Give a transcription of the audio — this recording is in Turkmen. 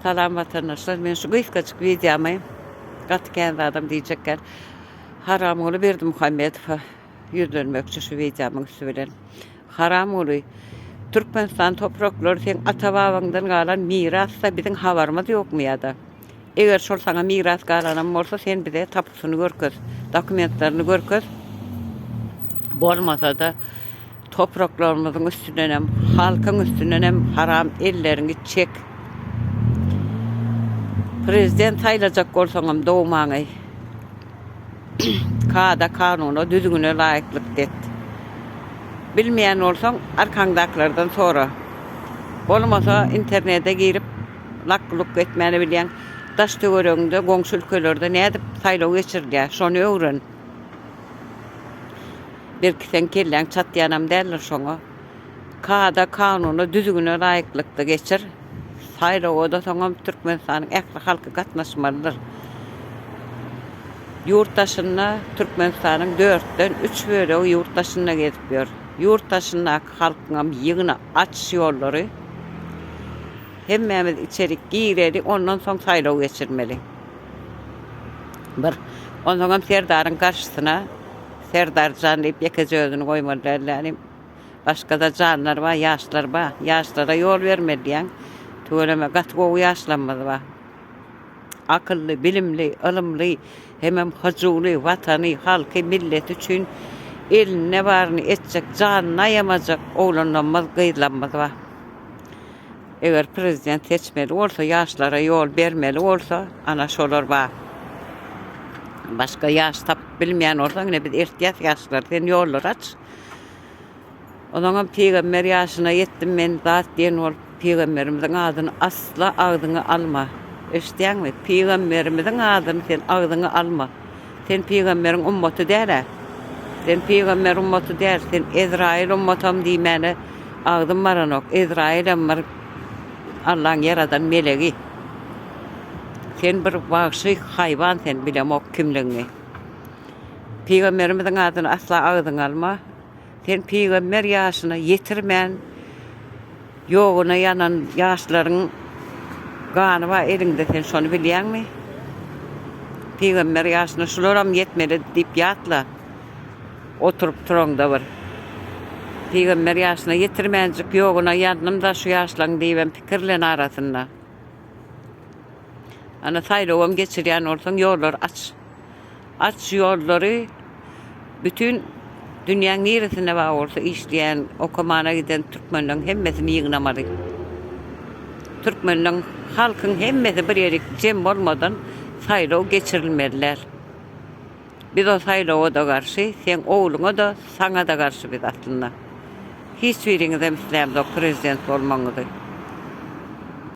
Salam watandaşlar men şu gysgajyk wideomy gaty kän zadam diýjekgän Haramguly Berdimuhamedowa ýüzlenmekçi şu wideomyň üsti bilen. Haramguly Türkmenistan topraklary seň ata babaňdan galan mirasda biziň habarymyz ýokmy ýada? Eger şol saňa miras galanam bolsa, sen bize tapusyny görkez, dokumentlerini görkez. Bolmasa-da, topraklarymyzyň üstündenem, halkyň üstündenem haram elleriňi çek. Prezident saýlajak bolsaňam dogmaňy kada-kanuna, düzgüne laýyklykda et. Bilmeýän bolsaň, arkaňdakylardan sora. Bolmasa, internete girip, Lak-luk etmäni bilýäň. Daş-töweregiňde, goňşy ülkelerde nädip saýlaw geçirilýär, şony öwren. Belki seň kelläň çatýanam däldir şoňa. Kada, kanuna, düzgüne laýyklykda geçir. Saýlawa-da soňam Türkmenistanyň ähli halky gatnaşmalydyr. Ýurt daşynda Türkmenistanyň dörtden üç bölegi ýurt daşynda gezip ýör. Ýurt daşyndaky. Halkyňam ýygna aç şu ýollary. Hemmämiz içerik gireli ondan soň saýlaw geçirmeli. Bir onsoňam serdaryň garşysyna Serdarjan diýip ýekeje özüni goýmaly däl lälim. Başgada janlar bar ýaşlar bar. Ýaşlara ýol bermeli diýýän. Tüweleme gaty gowy ýaşlarymyz bar. Akylly bilimli ylymly Hemem hyjuwly, watany, halky, milleti üçin elinde baryny etjek, janyny aýamajak oglanlamyz, gyzlamyz bar. Eger prezident seçmeli bolsa, ýaşlara ýol bermeli bolsa, ana şolar bar. Başga ýaş tapyp bilmeýän bolsaň, ine biz ertýäs ýaşlar, sen ýollary aç. Ozaňam pygamber ýaşyna ýetdim men zat diýen bolup pygamberimiziň adyny asla agzyňa alma eşitýäňmi pygamberimiziň adyny sen agzyňa alma sen pygamberiň ummaty dälä sen pygamber ummaty däl sen ezraýyl ummatam diýmäne agzym baranok ezraýylem bir Allaň ýaradan melegi sen bir wagşy haýwan sen bilemok kimligiňi pygamberimiziň adyny asla agzyňa alma. Sen pygamber ýaşyna ýetirmän ýoguna ýanan ýaşlaryň gany bar eliňde sen şony bilýäňmi? Pygamber ýaşyna şularam ýetmeli diýip ýatla oturyp turaňda bir pygamber ýaşyna ýetirmänjik ýoguna ýandymda şu ýaşlaň diýibem pikirlen arasynda. Ana saýlawam geçirýän bolsaň ýollar aç. Aç ýollary bütin dünýäň niresinde bar bolsa işleýän okamana giden türkmenleriň hemmesini ýygnamaly. Türkmenleriň halkyň hemmesi bir ýerik jem bolmadan saýlaw geçirilmeliler. Biz o saýlawada garşy seň ogluňa da saňa da garşy biz aslynda. Hiç biriňizem islämzok prezident bolmagyňyzy.